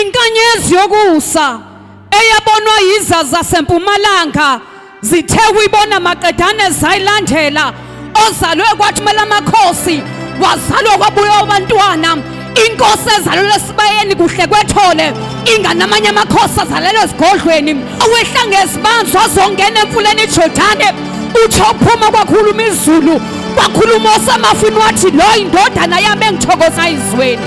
Inkanyezi yokusa eyabonwa yiza zasempumalanga zithe kuyibona maqedane zayilandela ozalwe kwathumela amakhosi wazalwa kwabuya abantwana inkosi ezalelwe esibayeni kuhle kwethole ingane amanye amakhosi azalelwe esigodlweni owehla ngezibanzi wazongena emfuleni ijordane utsho uphuma kwakhuluma izulu kwakhuluma osamafini wathi lo indodana yami engithokoza izweni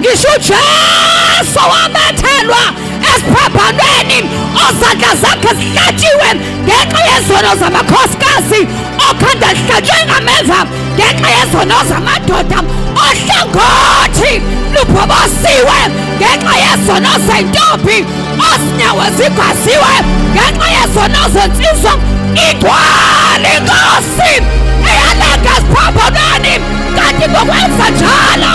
ngisho ujesu wamethelwa esiphaphanweni ozandla zakhe zihlatshiwe ngenxa yezono zamakhosikazi okhanda lihlatshwe ngameva ngenxa yezono zamadoda ohlangothi luphobosiwe ngenxa yezono zentombi ozinyawo zigwaziwe ngenxa yezono zensizwa igcwala inkosi eyalanga esiphaphanweni kanti ngokwenza njalo